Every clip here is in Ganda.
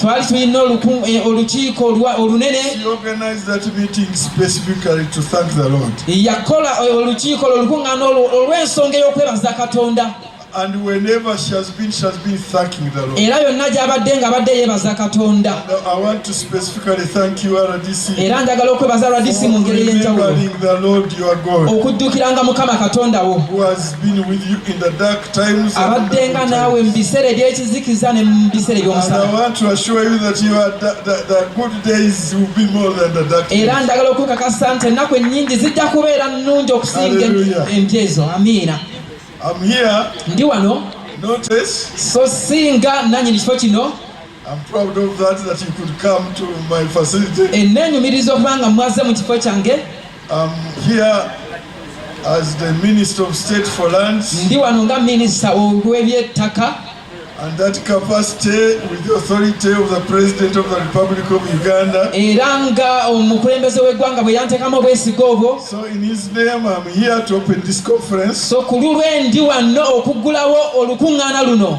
twali tulina eh, olukiiko olunene yakola eh, olukiiko lwo olukuŋŋaana olw'ensonga ey'okwebaza katonda And whenever she has been, she has been thanking the Lord. era yonna gy'abadde ng'abadde yeebaza katonda I want to specifically thank you, RDC, era njagala okwebaza rdc mu ngeri ey'enjawulo the Lord your God, okujjukiranga mukama katonda wo who has been with you in the dark abaddenga naawe mu biseera ebyekizikiza ne mu biseera ebyomusaaera ndagala okukakasa nti ennaku ennyingi zijja kubeera nnungi okusinga empya ezo amiina ndi wano so singa nanyini kifo kino Ennenyumiriza okuba nga mwaze mu kifo kyange. As the Minister of State for Lands, ndi wano nga minisita ow'ebyettaka and that capacity with the authority of the President of the Republic of Uganda. era nga omukulembeze w'eggwanga bwe yanteekamu obwesige obwo So in his name I'm here to open this conference so ku lulwe ndi wano okuggulawo olukuŋŋaana luno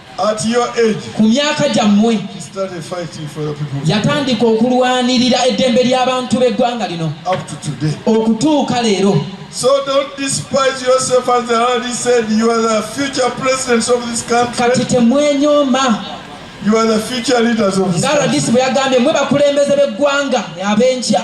At your age, ku myaka gyammwe yatandika okulwanirira eddembe ly'abantu b'eggwanga lino okutuuka leero So don't despise yourself as I already said you are the future presidents of this country. Kati temwenyoma. You are the future leaders of this country. Ngalo disi bwe yagambye mwe bakulembeze b'eggwanga ab'enkya.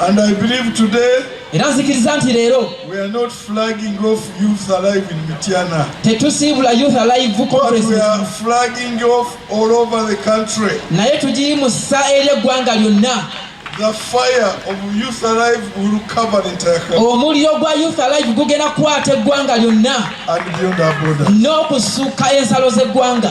And I believe today era nzikiriza nti leero tetusiibula youth alive naye tugiyimusa eri eggwanga lyonna omuliro gwa youth alive gugenda kukwata eggwanga lyonna n'okusukka ensalo z'eggwanga